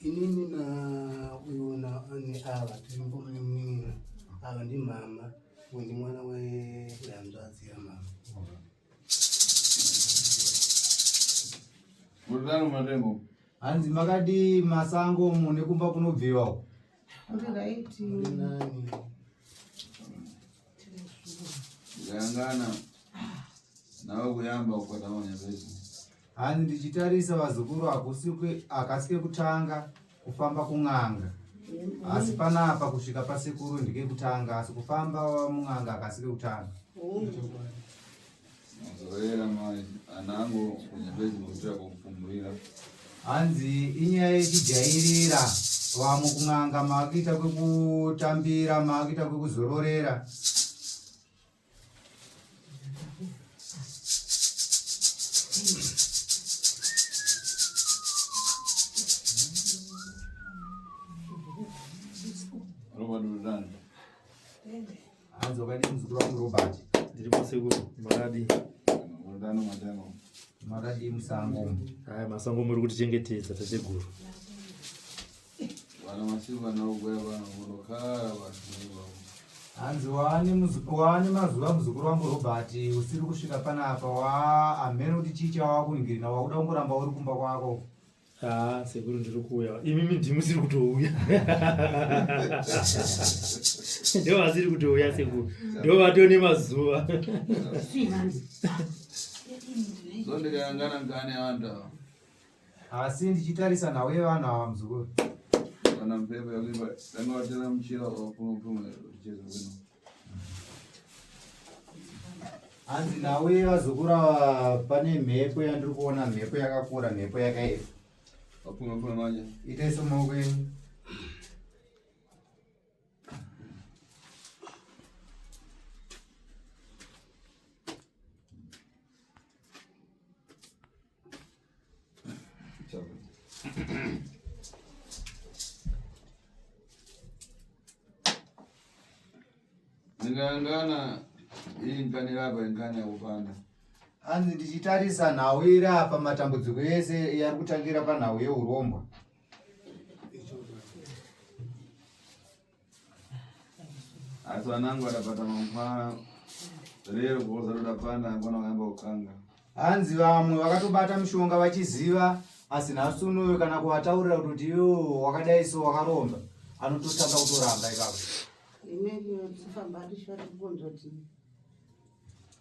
inini na uyu na ani ava tiri mbomunin'ina ava ndi mama uyu ndi mwana wehanzvadzi yamama mudaro matengo hanzi makadii masango mune kumba kunobviwa Gangana nawe kuyamba ukataona zvezvo hanzi ndichitarisa vazukuru hakusike akasike kutanga kufamba kun'anga asi panapa kusvika pasekuru ndike kutanga asi kufamba mun'anga akasike kutanga Muzorera mai anango kunyambezi muzira kokupumurira. Hanzi inyaya yechijairira vamwe kun'anga maakuita kwekutambira maakuita kwekuzororera Hanzo kani mzukuru wangu Robert. Ndiri masiku maradi. Mwadano mwadano. Maradi musango. Haya masango muri kuti chengetedza tateguru. Vana masiku vanaogwaya vana vonokara vanhu vavo. Hanzi waane waane mazuva muzukuru wangu Robert usiri kusvika panapa wa amhene kuti chii chawakungirina wakuda kungoramba uri kumba kwako. Ah, sekuru ndiri kuuya. Imimi ndimusiri kutouya. Ndo vasiri kutouya sekuru. Ndo vatone mazuva. Zondikayangana ngane vantu ava. Asi ndichitarisa nawo yevanhu ava muzukuru. Kana mpepo yakuipa, tanga watira muchira wakuno kumwe kucheza kwino. hanzi nawe vazukura pane mhepo yandiri kuona mhepo yakakura mhepo yakaipa itaiso maoko enyu ndingayangana iyi ngani rava ingani yakupanda hanzi ndichitarisa nhau iri apa matambudziko ese yari kutangira panhau yeurombwa asi vanangu vatapata mangwana rero kuoza toda panda angwana wayamba kukanga hanzi vamwe vakatobata mushonga vachiziva asi nhasi unoyo kana kuvataurira kuti yo wakadai so wakaromba anototanga kutoramba ikako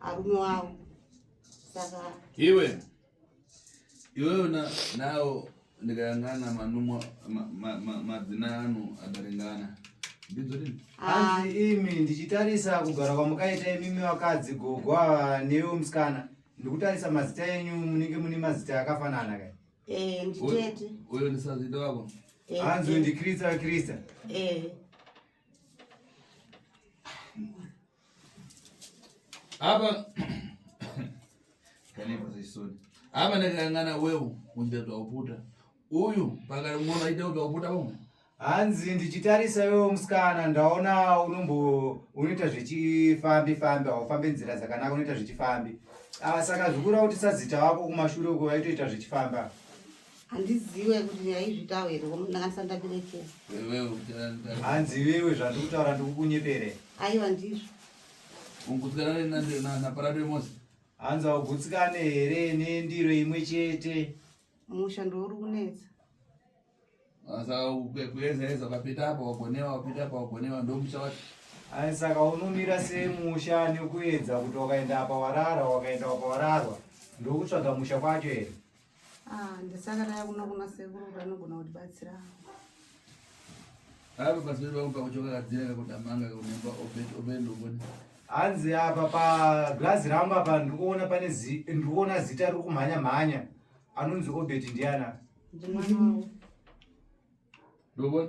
arume wavo saka iwe iwewe nawo ndikayangana manumwa madzina ano adaringana hanzi imi ndichitarisa kugara kwamakaita imimi vakadzi gogo ava newo musikana ndikutarisa mazita enyu munenge mune mazita akafanana kai eh, nditete uyo ndisazita wako eh, hanzi eh. ndikrista krista Apa apa ndakangana wewe unja twakuputa uyu pakati mwono aita kuti wakuputa pamwe hanzi ndichitarisa iwewo musikana ndaona unombo unoita zvechifambi fambi haufambe nzira dzakanaka unoita zvechifambi ah, saka zvikura kuti sazita wako kumashure uko vaitoita zvechifamba handizive kuti yaizvitawo here ndakanisa ndaberekera hanzi iwewe zvandiri kutaura ndikukunyepere aiwa ndizvo ungutsikana naparado yemosi hanzi augutsikane here nendiro imwe chete musha ndouri kunetsa kuezaeza papita apa wagonewa wapita apa wagonewa ndomusha wacho ai saka unomira semusha nekuedza kuti wakaenda apa warara wakaenda apa wararwa ndokutsvaga musha kwacho here Ah, ndisaka ndaya kuno kuna sekuru kuti anogona kutibatsira avo pasiperi vangu pakuchoka kadzira kakudamanga kakunemba obendomboni hanzi apa pagirazi rangu apa ndikuona pane ndikuona zita riri kumhanya mhanya anonzi obet ndiana ndimwana wavo ndobona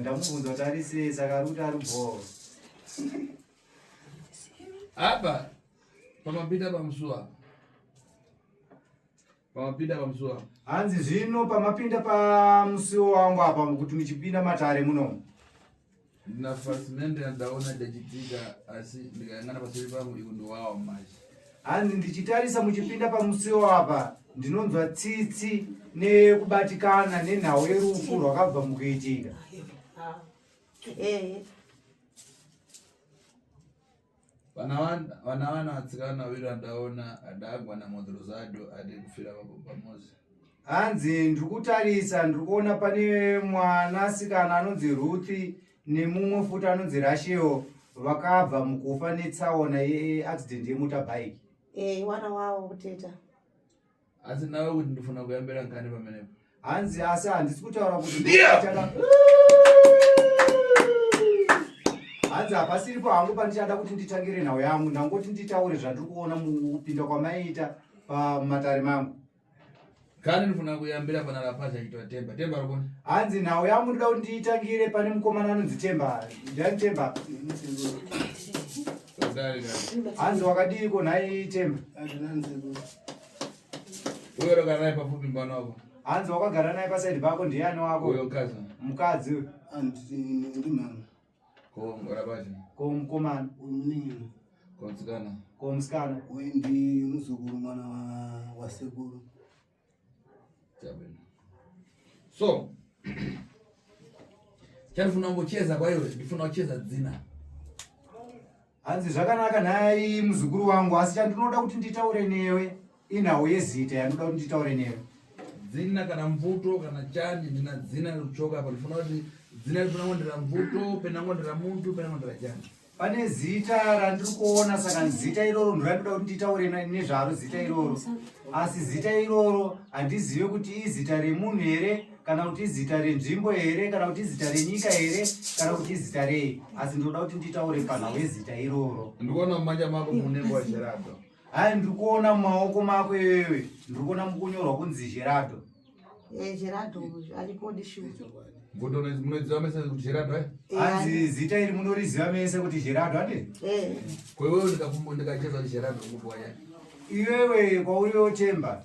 ndamubvunza kuti ari sei saka ari kuti ari bhoo apa pamapinda pamusuwa pamapinda pamusuwa hanzi zvino pamapinda pamusiwo wangu apa kuti muchipinda matare munomu ndinafasimende yandaona ndachidzika asi ndikayangana paseri pangu iku ndiwawa manje hanzi ndichitarisa muchipinda pamusiwo apa ndinonzwa tsitsi nekubatikana nenhau yerufu rwakabva mukuitika vana vana vatsikana wira ndaona adagwa namodhoro zado ade kufira vababa mozi hanzi ndiri kutarisa ndiri kuona pane mwana asikana anonzi ruthi nemumwe futi anonzi rasheo vakabva mukufa netsaona yeaccident yemotabike eyi eh, wana wavo kuteta asi nawe kuti ndofuna kuyambira ngani pamene hanzi asi handisi kutaura kuti hanzi hapasiripo hangu pandichada kuti nditangire nhau yangu ndangoti nditaure zvandiri kuona mukupinda kwamaiita pamatare mangu kani ndifuna kuyambira pana lapacha achiitwa temba temba rokona hanzi nhau yangu ndida kuti ndiitangire pane mukomana anonzi temba ndani temba hanzi wakadiiko nhai temba azvinanzekuti Uyo wakagara naye pafupi mwana wako. Hanzi wakagara naye paside pako ndiani wako? Uyo mkazi. Mkadzi uyo. Hanzi ndi mama. Ko ngora baje. Ko mkomana. Uningi. Ko msikana. Ko msikana. Uyu ndi muzukuru mwana wa wa sekuru. Jabena. So Chari funa ngocheza kwa iwe, ndifuna ucheza dzina. Hanzi zvakanaka nhai muzukuru wangu asi chandinoda kuti nditaure newe inhau yezita yanoda kuti nditaure newe. Dzina kana mvuto kana chani ndina dzina rekuchoka apa ndifuna kuti dzina rifuna kunge ndira mvuto pena kunge ndira muntu pena kunge ndira chani. Pane zita randiri kuona saka zita iroro ndorandoda kuti nditaure nezvaro zita iroro asi zita iroro handizive kuti izita remunhu here kana kuti izita renzvimbo here kana kuti izita renyika here kana kuti izita rei asi ndinoda kuti nditaure panhau yezita iroro ndikuona mumanja mako mune nguva zherado hai ndiri kuona mumaoko mako iwewe ndiri kuona mukunyorwa kunzi zherado zherado eh, arikodi shu munoziva mese kuti zherado eh? eh, hanzi zita iri munoriziva mese kuti zherado ane kwewewe ndikacheza kuti zherado nguva ya iwewe kwauri yotemba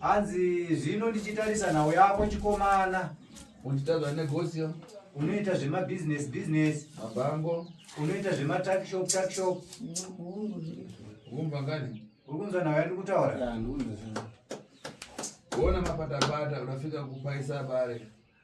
Hanzi zvino ndichitarisa nhau yako chikomana. Unditadza negosio. Unoita zvema business business. Mabango. Unoita zvema tuck shop tuck shop. Kumva ngani? Uri kunzwa nhau yandi kutaura? Ya, ndikuona. Kuona mapatapata unafika kupaisa bare.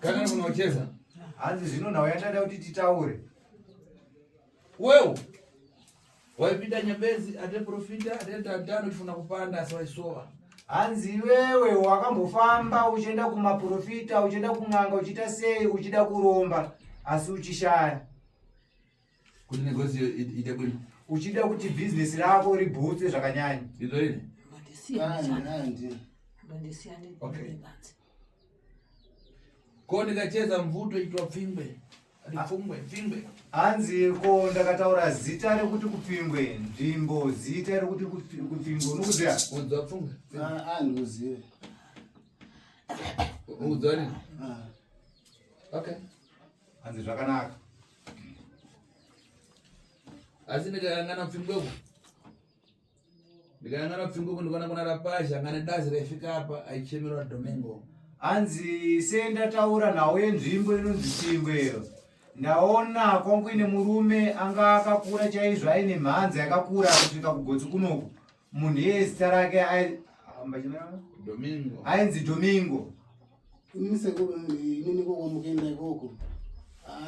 Kana munocheza. Hanzi zvino nhau yandada kuti titaure. Wewe waipinda nyambezi ate profita ate tantano tifuna kupanda asi waisowa. Hanzi iwewe wakambofamba uchienda kumaprofita uchienda kun'anga uchiita sei uchida kuromba asi uchishaya. kuti negozio ite bwino uchida kuti bhizinesi rako ribhutse zvakanyanya izoini ko ndikacheza mvuto itwa pfingwe pfungwe pfingwe hanzi ko ndakataura zita rekuti kupfingwe nzvimbo zita rekuti kupfingwe unokuziva udzwa pfungwe andiuzive udzwa nini okay hanzi zvakanaka asi ndikayangana pfingweko ndikayangana pfingweko ndikona kuna rapazha ngane dazi raifika apa aichemerwa domingo hanzi sendataura nhau yenzvimbo inonzi pfingwe iyo ndaona kwangu ine murume anga akakura chaizvo aine mhanza yakakura kusvika kugotsi kunoku munhu iye zita rake ainzi domingo ini sekuru inini kokwamukenda ikoko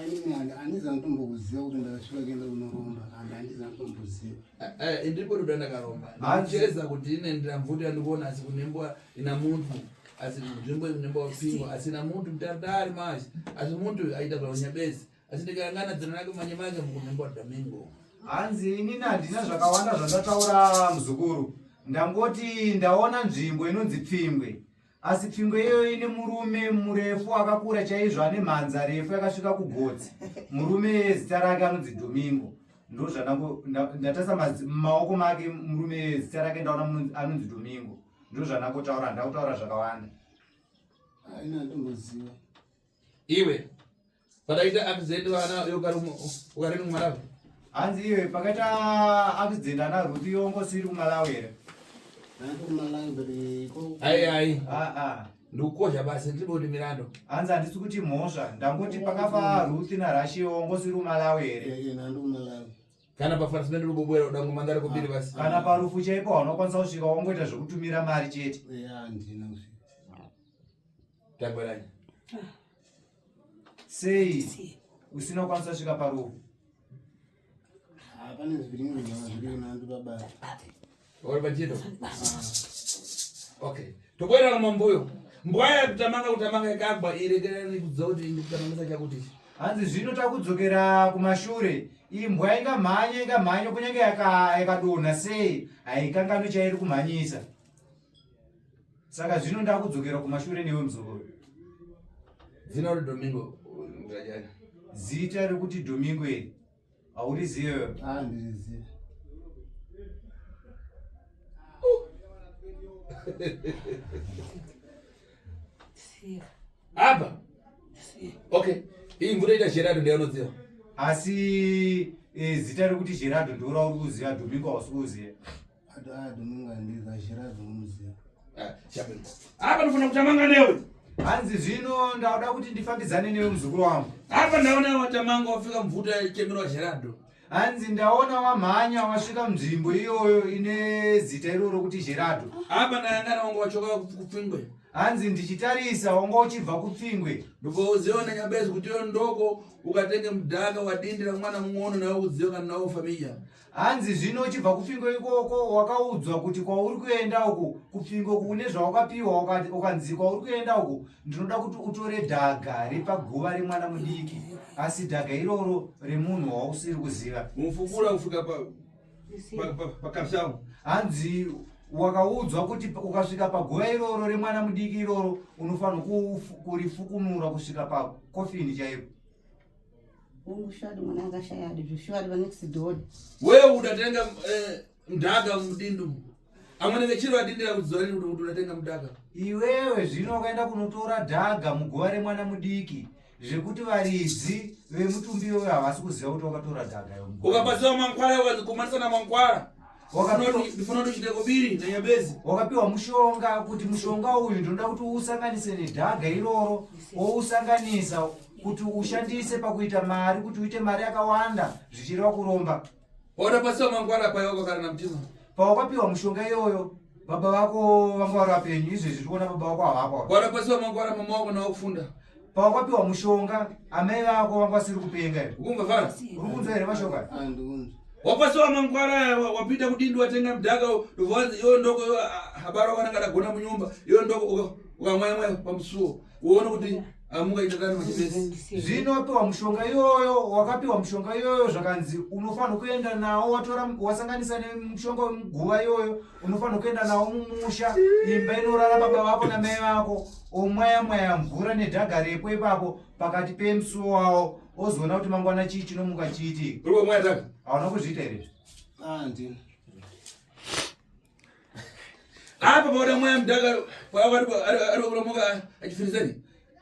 inini handiza nditombokuziva kuti ndakasvika kuenda kunoromba and handiza nditomboziva eh, eh, ndipo ndoda ndakaromba ndicheza kuti ine ndiramvuto yandikuona asi kunembwa ina muntu asi nzvimbo ine nemba wapingwa asina muntu mutari taari mazi asi muntu aita zvaunyabezi Asi ndikangana dzina rake manje manje mukunyamba Domingo. Hanzi ini handina zvakawanda zvandataura muzukuru. Ndangoti ndaona nzvimbo inonzi Pfingwe. Asi Pfingwe iyoyo ine murume murefu akakura chaizvo ane mhanza refu yakasvika kugotsi. Murume zita rake anonzi Domingo. Ndozvandango ndatasa maoko make murume zita rake ndaona anonzi Domingo. Ndozvandangotaura ndakutaura zvakawanda. Haina ndomuziva. Iwe pakaita accident vana ukari kumalawi hanzi iwe pakaita accident ana ruti yongo siri kumalawi here ai ai ah, ah. ndikukosha basi ndiboti mirando hanzi handisi kuti mhosva ndangoti pakafa ruti narashi yongo siri kumalawi here kana pafarisi nende lubobwera udango mandari kubiri ah. basi kana parufu chaipo haunokwanisa kusvika wongoita zvekutumira mari chete tagweranya Sei usina kukwanisa kusvika parufu? Hapana ah, zviri nyama zviri kunandu baba. Ori pachito. Ah. Okay. Tokoera kama mbuyo. Mbwaya kutamanga kutamanga ikagwa irekera nikudza kuti ndikutamangisa chakuti. Hanzi zvino takudzokera kumashure. Imbwa ingamhanye ingamhanye kunyange yakadonha sei haikanganwi chairi kumhanyisa. saka zvino ndakudzokera kumashure newe muzukuru zina uri domingo mzvajani zita rekuti domingo iri haurizive ah, ndirizive apa okay iyi mvura ita gerado ndeyanodziva asi eh, zita rekuti gerado ndorauri kuziva domingo hausi kuziva Apa ndofana kutamanga newe. Hanzi zvino ndauda kuti ndifambidzane newe muzukuru wangu. Apa ndaona watamanga wafika mvuta yechemerwa Gerardo. Hanzi ndaona wamhanya wasvika mzvimbo iyoyo ine zita iroro kuti Gerardo. Apa ndayangana wangu wachoka kupfingwe. Hanzi ndichitarisa wanga uchibva kupfingwe. Ndipo uziwa na nyabezi kuti yo ndoko ukatenge mudhaka wadindira mwana mung'ono nawe uziwa kana nawo familya. Hanzi zvino uchibva kupfingo ikoko wakaudzwa kuti kwauri kuenda uku kupfingo kune zvawakapiwa ukanzi kwauri kuenda uku ndinoda kuti utore dhaga repaguva remwana mudiki asi dhaga iroro remunhu wausiri kuziva mufukura kusvika pakashamu hanzi wakaudzwa kuti ukasvika paguva iroro remwana mudiki iroro unofanirwa kurifukunura kusvika pakofini chaipo wewe udatenga eh, mdaka mudindu amwene vechiri vadindira kudziva rini kuti udatenga mdaka iwewe zvino wakaenda kunotora dhaga muguva remwana mudiki zvekuti varidzi vemutumbi iyoyo havasi kuziva kuti wakatora dhaga yo ukabatsira mankwara ukazi kumanisana mankwara wakapiwa mushonga kuti mushonga uyu ndinoda kuti uusanganise nedhaga iroro wousanganisa kuti ushandise pakuita mari kuti uite mari yakawanda zvichireva kuromba pawakapiwa mushonga iyoyo baba vako vanga vari vapenyu izvezvi tikuona baba vako havako Pawakapiwa mushonga amai vako vanga vasiri kupenga here? Ukunzwa zvara? Uri kunzwa here mashoko aya? Andikunzwa. Wapasiwa mangwara wapinda kudindi watenga mudhaka ndovanzi yo ndoko yo habara wakananga ndagona munyumba yo ndoko ukamwaya mwaya pamusuwo uone kuti amuka itatani machipesi. Zvino wapiwa mushonga iyoyo wakapiwa mushonga iyoyo zvakanzi unofanirwa kuenda nawo watora wasanganisa nemushonga wemuguva iyoyo unofanira kuenda nawo mumusha imba inorara baba vako namai vako omwaya mwaya mvura nedhaga repo ipapo pakati pemusuwo wawo ozoona kuti mangwana chii chinomuka chiiti hauna kuzviita here ah, apa paoda mwaya mudhaka paari kuromoka achifirisani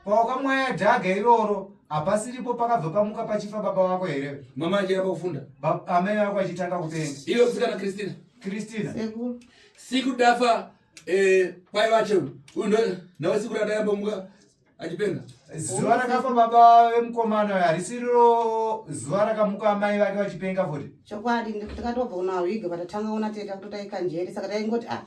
pawakamwaya dhaga iroro hapasiripo pakabva pamuka pachifa baba wako here mama achira pakufunda amai vako achitanga kupenga iwe kusikana kristina kristina siku dafa eh, pai vache uyu nawe siku radayambomuka achipenga zuva rakafa baba vemukomana uyo harisiriro zuva rakamuka amai vake vachipenga futi chokwadi ndikatobva unawiga vatatanga ona teta kutotaikanjeri saka taingoti ah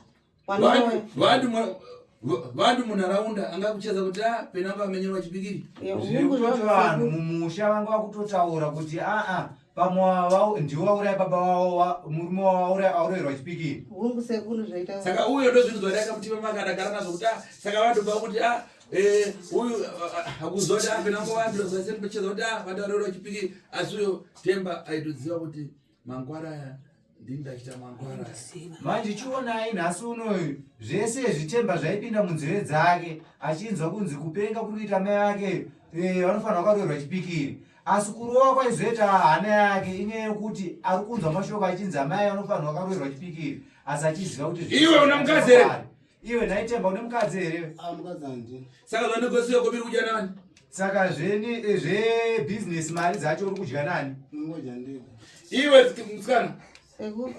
vanhu munharaunda angakucheza kuti a ah, pena vamenyerwa chipikiri zvekutoti vanhu mumusha vanga vakutotaura kuti aa ah, ah, pamwe ndiwo vauraya baba vavo murume wavauraya aurayirwa chipikiri hungu sekuru zvaita saka uyo ndozvinzwa rakamutima makadagara nazvo kuti a saka vatoba kuti a eh, uyu akuzoti apena ngo vanhu zvasendocheza kuti a vataurayirwa chipikiri asi uyo temba aitoziva kuti Mangwara aya ndini ndachita mangwara. Manje chionai nhasi unoyu zvese zvitemba zvaipinda munzeve dzake achinzwa kunzi kupenga kuri kuita mai ake eh, vanofanira kwaroerwa chipikiri asi kurova kwaizoita hana yake inyaya yekuti ari kunzwa mashoko achinzi amai anofanirwa kwaroerwa chipikiri asi achiziva kuti iwe una mukadzi here Iwe nhai Temba une mukadzi here? Ah mukadzi handi. Saka zvane kwese yako biri kudya nani? Saka zveni eh, zve business mari dzacho uri kudya nani? Ngoja ndiko. Iwe mtsikana. Eho.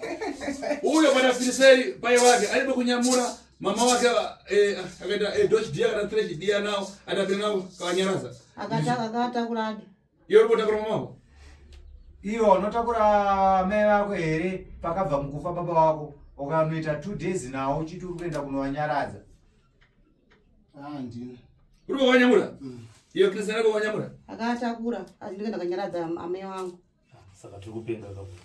Uyo bwana Filiseri pai wake alibe kunyamura mama wake eh akaita eh dosh dia kana trash dia nao atapinga kanyaraza. Akata akata kuladi. Iyo unotakura mumako. Iyo unotakura mai vako here pakabva mukufa baba wako ukanoita two days nawo uchiti uri kuenda kunowanyaradza. Handina. Uri kuwanyamura? Mm. Iyo kisa yako wanyamura? Akatakura, asi ndikaenda kanyaradza amai wangu. Ah, saka tiri kupenga kakura.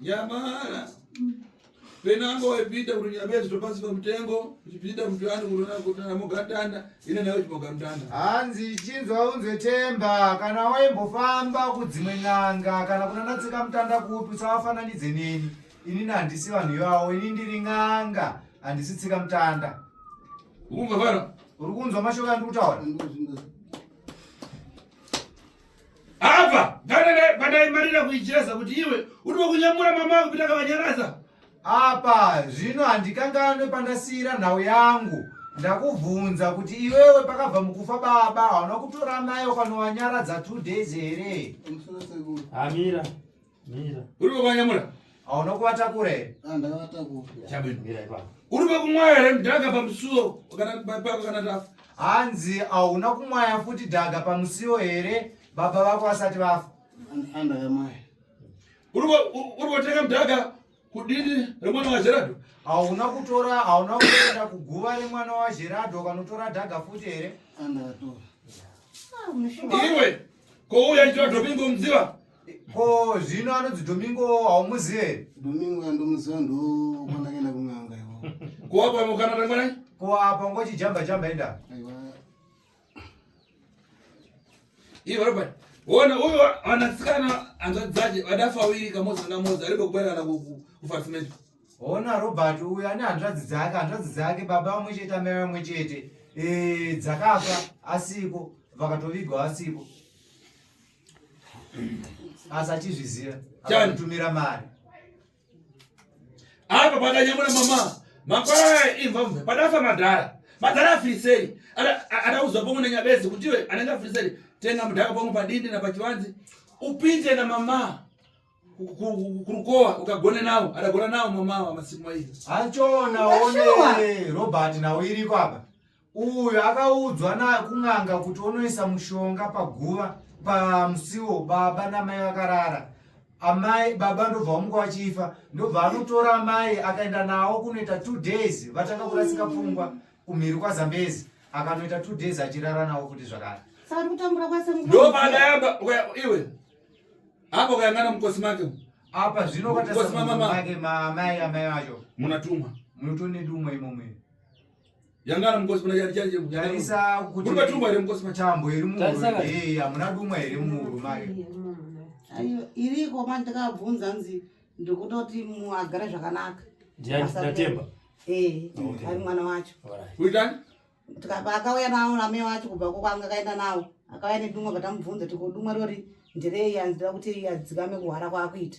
Yamara. Penango wepita kurunyabezi topasika mutengo uchipita mutwani kurona kutana mugatanda ine nayo chimoga mutanda. Hanzi chinzwa unzwe temba kana waimbofamba kudzimwe n'anga kana kunana tsika mutanda kupi usawafananidze neni. Ini handisi vanhu ivavo ini ndiri n'anga handisi tsika mutanda. Ukumva fara? Uri kunzwa mashoko andikutaura? apa padaimarira kuichireza kuti iwe uri wekunyamura mama kupita kavanyaraza apa zvino handikanganwe pandasiyira nhau yangu ndakubvunza kuti iwewe pakabva mukufa baba hauna kutora mai ukanovanyaradza two days here amira uri kwekuanyamura hauna kuvata kure here ah, ndakavata uri kwekumwaya here mdhaka pamusuo pako kana tafa hanzi hauna kumwaya futi dhaga pamusiwo here baba vako vasati vafa uri kotenga mdhaka kudini remwana wajeradho hauna kutora hauna kuenda kuguva remwana wajeradho ukanotora dhaga futi here ah, iwe kouya ichira domingo mudziva ko zvino anonzi domingo haumuzive here domingo andomuziva ndo kwandaenda kun'anga iwo kuwapa mukana remwanai kuwapa ngochijamba jamba enda Ivo Robert, wona huyo wanasikana anzadzaje wadafa wiri kamoza kamoza aripo kubera na kufarsimento. Wona Robert uyo ane hanzvadzi dzake, hanzvadzi dzake baba vamwe chete amai vamwe chete. Eh, dzakafa asiko, vakatovigwa asiko. Asachizviziva, akatumira mari. apa pakanyamura mama makwara imva mve padafa madhara madhara afirisei ataudzwa pomwe nenyabezi kuti iwe anenge afirisei tenga mudhaka pomwe padindi napachivanzi upinde na mama kurukowa ukagone nawo adagona nawo mama wa masiku maizi achona one robert nawo iriko apa Uyu akaudzwa nakun'anga kuti onoisa mushonga paguva pamusiwo baba namai vakarara amai baba ndobva vamuka vachifa ndobva anotora amai akaenda nawo kunoita two days vatanga kurasika pfungwa kumhiri kwazambezi akanoita two days achirara nawo kuti zvakare ndopadayaba iwe apo kayangana mukosi make apa zvino kwatasmamake maamai amai vacho munatumwa munotonedumwa imomwe yangara mukosi pana chari chanje tarisa kuti muri batumwa here mukosi machambo here muhuro hey amuna dumwa here muhuro mari ayo iriko manje ndakabvunza nzi ndikutoti muagara zvakanaka ndatemba eh ari mwana wacho kuitani tikaba akauya nawo name wacho kubva kwanga akaenda nawo akauya nedumwa batamubvunza tikodumwa rori ndirei anzira kuti adzikame kuhwara kwakuita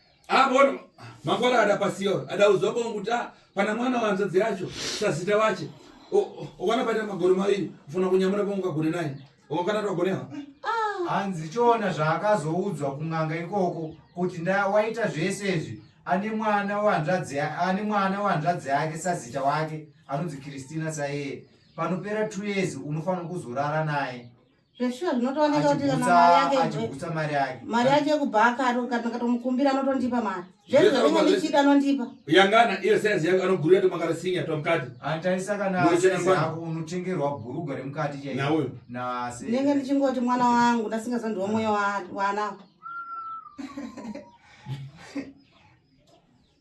Abona mangwara ada pasiyo ada uzoba kuti ah, pana mwana wanzadzi yacho sazita wache okwana paita magore maviri ufuna kunyamura pamwe ukagone naye okana twagonewa ah. hanzi choona zvaakazoudzwa kun'anga ikoko kuti nda waita zvese izvi ane mwana wanzvadzi ane mwana wanzvadzi yake sazita wake anonzi kristina saiye panopera two years unofanira kuzorara naye zveshuwa zvinotooneka kuti kana mari yake achigutsa mari yake mari yake yekubhaka kana katomukumbira anotondipa mari zvese zvainge ndichida anondipa yangana iyo size yake anogurira tomakara sinya tomukati antaisa kana ako unotengerwa bhurugwa remukati chaiyo nauyo nase ndenge ndichingoti mwana wangu ndasingazandiwa mwoyo wana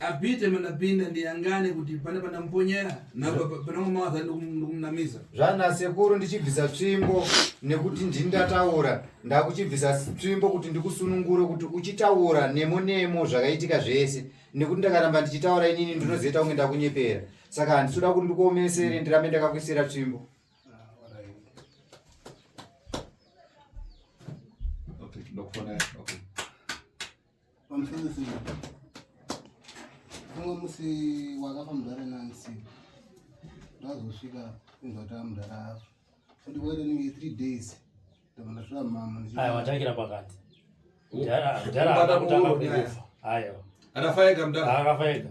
abhite mandapinda ndiyangane kuti pane pandamuponyera panamamawaza ndikumunamiza zvana sekuru ndichibvisa tsvimbo nekuti ndini ndataura ndakuchibvisa tsvimbo kuti ndikusunungure kuti uchitaura nemo nemo zvakaitika zvese nekuti ndakaramba ndichitaura inini ndinozoita kunge ndakunyepera saka handisoda kuti ndikuomesere ndirambe ndakakuisira tsvimbo pamusana umwe musi wakafa mudhara nansi ndazosvika inzvataa mudhara afa kuti waitenenge three days ndakandasvika mama aya watangira pakati mudhara akutanga kufa ayo akafa ega mudhara akafa ega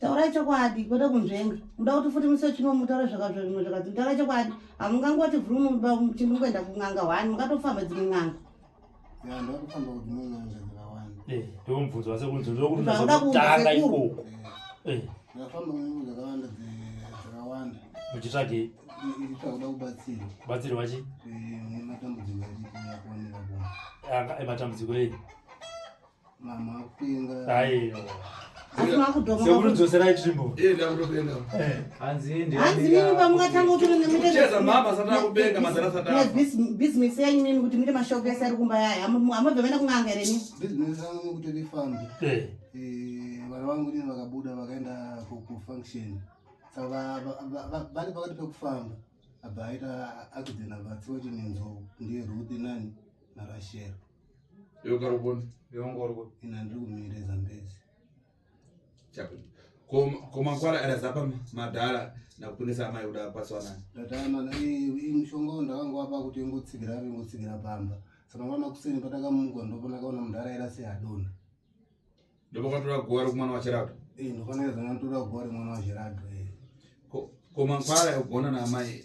taurai chokwadi kwete kunzvenga muda kuti futi musi wechino mutaure zvakazvimwe zvakati mutaura chokwadi hamungangoti vhurumuchimbi kuenda kun'anga hwani mungatofamba dzimwe n'anga ndomubvunzo wase kunzi ndokuda kutanga ikoko muchitsvagei batsirwa chi ematambudziko eyi sekurudzoserai tsvimbo hanzi nini pamungatanga kuti business yenyu nini kuti muite mashop ese ari kumba yayo hamabve vaenda kun'anga here nini vana vangu nini vakabuda vakaenda kufunction saka vari pakati pekufamba abva aita accident abatsiwa chinenzou ndiye ruthi nani narashero yokarukoni yongorwo ina ndiri kumire zambezi komakwara era zapa madhara nakutonesa amai kuda kwatswanani ndataamana mushonga wo ndakanga wapa kuti ingotsigira ave ingotsigira pamba saka mwana kuseni patakamuka ndopona kaona mudhara era se adona ndopakatora guva rekumwana wachirado ndofanira zana ndotora guva remwana wachirado komankwara yogona naamai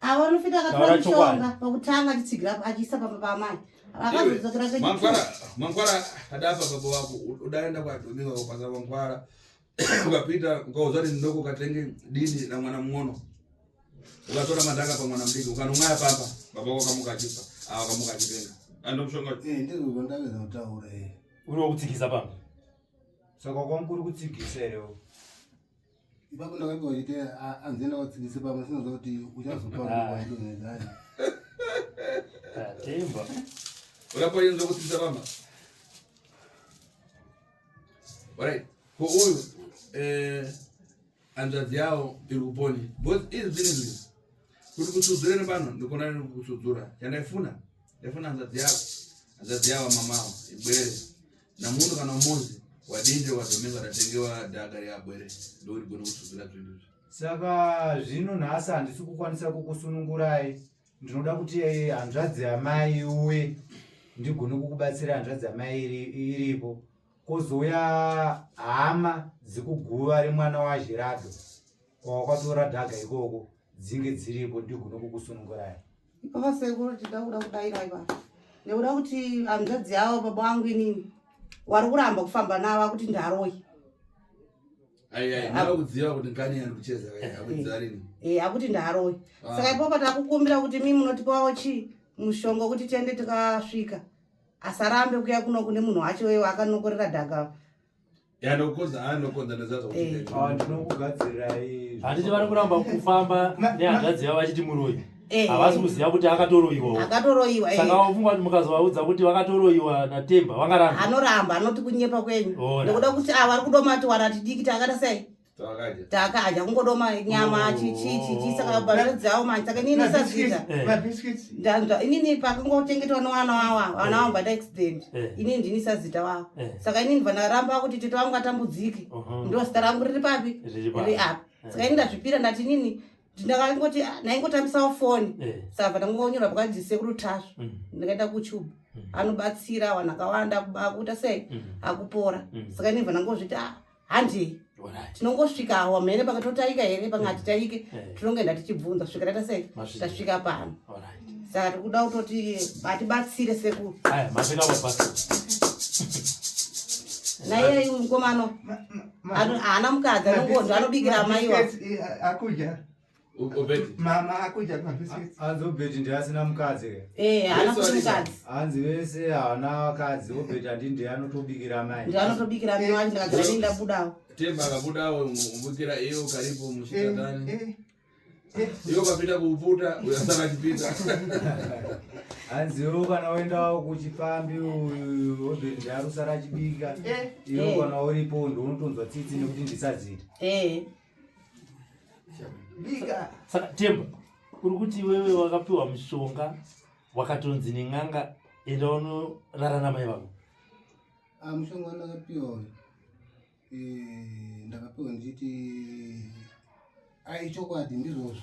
avo vanofita akatora mushonga pakutanga achitsigira achiisa pamba paamai mangwara adapa baba wako udaenda kwadomika kupasa mangwara ukapita ukaudza kuti ndoko ukatenge dini na mwana mng'ono ukatora madhaka pa mwana mdiki ukanomwaya pamba baba wako akamuka achifa ava akamuka achitenga andomushonga eh, ndizvondaveza kutaura eh. uri wokutsikisa pamba saka kwamukuri kutsigisa erewo ipapo ndakanga uchiti anzi enda wadzikise pamwe sinoziva kuti uchazopaaidoneani atemba urapayenza kudzikisa pamba right ko uyu eh, hanzvadzi yawo iri kuponi bcause izvi zvine zvii kuti kusudzure nepano ndikona kusudzura chandaifuna ndaifuna hanzvadzi yavo hanzvadzi yavo mamavo ibwere namunhu kana umozi wadinde wadomeka ratengewa dhaka reabwere ndori gona kutsuzira zvinhu izvi saka zvino nhasi handisi kukwanisa kukusunungurai ndinoda kuti eh, hanzvadzi yamai uye ndigone kukubatsira hanzvadzi yamai iri- iripo kozouya hama dzekuguva remwana wazhirado kwawakatora dhaga ikoko dzinge dziripo ndigone kukusunungurai Ipapa sekuru tida kuda kudaira ipapa. Nekuda kuti hanzvadzi yavo baba wangu inini wari kuramba kufamba navo akuti ndaroi. Akudziva kuti ngani yari kucheza akudziva rini. Eh akuti ndaroi. Ah. Saka ipapa takukumbira kuti mimi munotipawo chi mushonga kuti tiende tikasvika. Asarambe kuya kuno kune munhu wacho wewe akanokorera dhaka. yanokodza anokodza nezazvahanditi eh. vari kuramba kufamba nehanzvadzi yavo vachiti muroyi eh. havasi kuziva kuti akatoroiwaakatoroiwa eh. saka wafungwa kuti mukazovaudza kuti vakatoroiwa natemba vangaramba anoramba anoti kunyepa kwenyu nekuda kuti ava ah, vari kudomati waratidikiti akata sei takadya kungodoma nyama oh. chichichichi saka bazvadzavo manje saka inini ndisazviita eh. inini pakangochengetwa nevana wavo eh. vana vangu vataaccident eh. inini ndini sazita wavo saka inini vanaramba kuti tete vangu atambudzike uh-huh. ndo zita rangu riri papi ri api saka ini ndazvipira ndati inini ndakangoti ah, ndaingotambisawo foni saka ndangonyora pakanzi sekuru tasvu mm. ndakaenda kuchuba mm. anobatsira vanhu akawanda akuita sei mm. akupora saka inini vanangozviti a ah, handei tinongosvika awa mhene pakatotaika here pange hatitaike eh. eh. tinongoenda tichibvunza svika taita sei tasvika pano saka tikuda kutoti hatibatsire sekuru naiyeyi mukomano haana mukadzi anongonzva anobikira amaiwa eh, mama akuja hanzi obheti ndiye asina mukadzi eh, haana kuti mukadzi hanzi vese haana vakadzi obheti andi ndiye anotobikira mai ndiye anotobikira mai wanje ndakagara nei ndabudawo temba akabudawo kubikira iyo karipo mushikatani eh, eh, iyo kapinda kuputa uyasara achipinda hanziwo kana woendawo kuchipfambi uyu obheti ndiye arusara achibika iyo kana uripo ndi unotonzwa tsitsi nekuti ndisazita saka temba uri kuti wewe wakapiwa mushonga wakatonzi nen'anga enda unorara namai vako ah, mushonga wandakapiwa uyu eh, ndakapiwa ndichiti aichokwadi ndizvozvo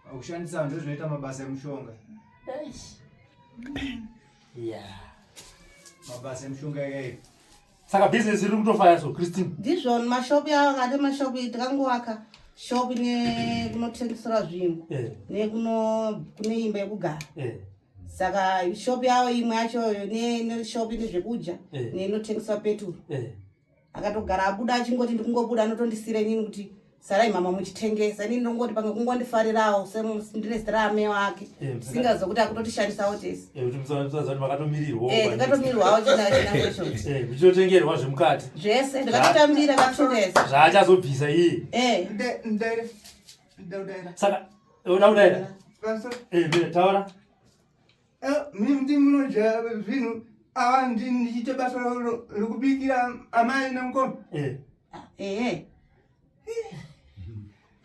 Kushandisa vanhu ndozvinoita mabasa emushonga. Yeah. Mabasa emushonga yake. Saka business iri kutofaya so Christine. Ndizvo mashop yawo ngati mashop itangoaka shop ne kunotengesera zvinhu. Eh. Ne kuno kune imba yekugara. Eh. Saka shop yawo imwe yacho ne ne shop ine zvekudya eh. ne inotengesera petrol. Eh. akatogara abuda achingoti ndikungobuda anotondisira inini kuti sarai mama muchitengesa inini ndongoti pamwe kungondifarirawo ndine zita raame wake singazo kuti akutotishandisawo tese ndikatomirirwawo chinachoichitotengerwa zvemukati zvese ndikatotambira katongesa zvaachazobvisa iye saka uda kudaira taura Eh, mimdi munodya zvinhu ava ndichiita basa rekubikira amai nemukoma ehe eh. eh,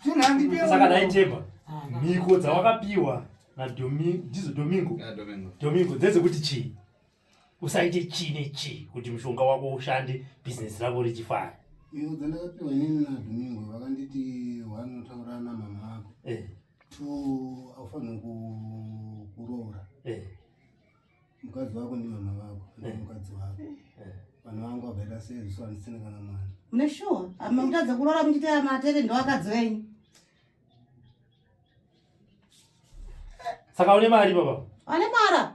zvinhu andisaka ndaitema ah, mhiko dzawakapiwa ndizo domingo domingo dzedzekuti chii usaite chii nechii kuti mushonga wako ushande bhizinesi rako richifara iyo dzandakapiwa inini nadomingo vakanditi wanotaura namama vako to aufanire kuroora eh. mukadzi wako ndi mama vako eh. mukadzi wako eh. vana vangu vakaita sei zviso handisina kana mwana mune sure makutadza kuroora muchitaya matete ndovakadzi venyu saka une mari baba ane mara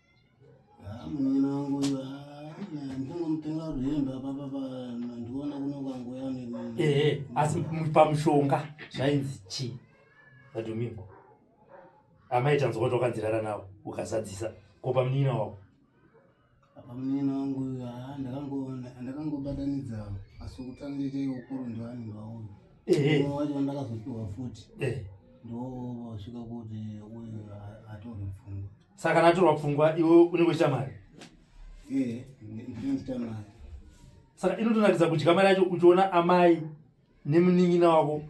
Ah, munoona wangu uyu ah, ndingomutenga rwemba papa pandiona kuno kwangoya ehe asi pamushonga zvainzi chii vadomimbo amai tanzwa kuti wakanzirara navo ukazadzisa ko pamunina wavo pamunina wangu uyu ah, ndakangobatanidzawo asi kutanga ite ukuru ndoani ndwaoyo wacho ndakazopiwa futi eh. ndosvika kuti uyu atorwe pfungwa Saka kana atorwa pfungwa iwe unenge uchita mari? Eh, ndinoita mari. Saka inotonakidza kudya mari yacho uchiona amai nemunin'ina wako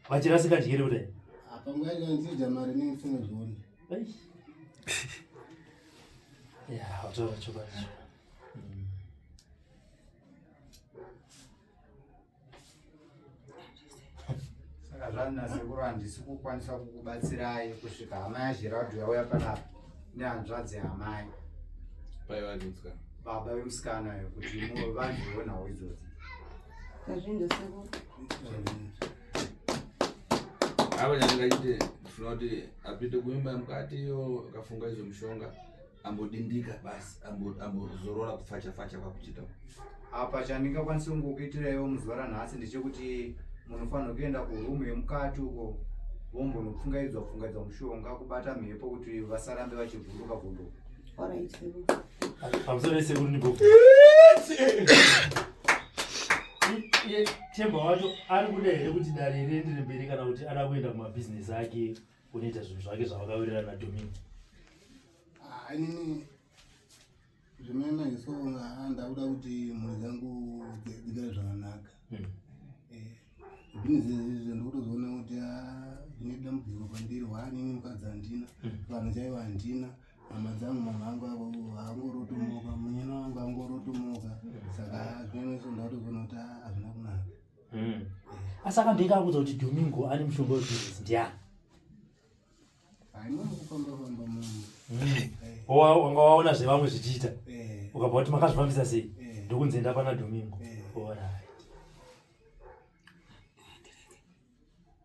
vachirasika dyere kudai. Apa nguva yacho ndichidya mari nemifungo zvoona. Eish. Ya, wataura chokwadi. saka zvanzi nasekuru handisi kukwanisa kukubatsirai kusvika hama yazhiradu yauya panapa nehanzvadzi yamai paivanitswa baba vemusikana yo kuti muwe vanhu veonhawo idzodzi kazvindo sekuru avo nyangaite ndifuna kuti apinde kuimba mukati yo akafunga izvo mushonga ambodindika basi ambozorora ambo kufacha facha kwakuchita apa chandingakwanisa kungokuitiraiwo muzuva ranhasi ndechekuti munofanirwa kuenda kurumu yemukati uko vombonopfungaidzwa pfungaidzwa mushonga kubata mhepo kuti vasarambe vachivhunduka vhunduka chemba wacho ari kuda here kuti dare riendere mberi kana kuti ada kuenda kumabhizinesi ake kunoita zvinhu zvake zvavakawirirana nadomini ah, inini zvimene iso ah, ndakuda kuti mhuri dzangu dzigare zvakanaka hmm. eh, zvinezvezvizvo ndikutozoona kuti ah, zvine dambudziko kwandiri waanini mukadzi handina hmm. vanhu chaivo handina hama dzangu mama angu avo angorotomoka munyana wangu angorotomoka hmm. saka zvimene iso ndakutozona kuti hazvina kunaka mm. asi akambeka akuudza kuti domingo ane mushonga wezvirisi ndiani wanga waona zvevamwe zvichiita eh. ukabva kuti makazvifambisa sei eh. ndokunzi enda pana domingo eh.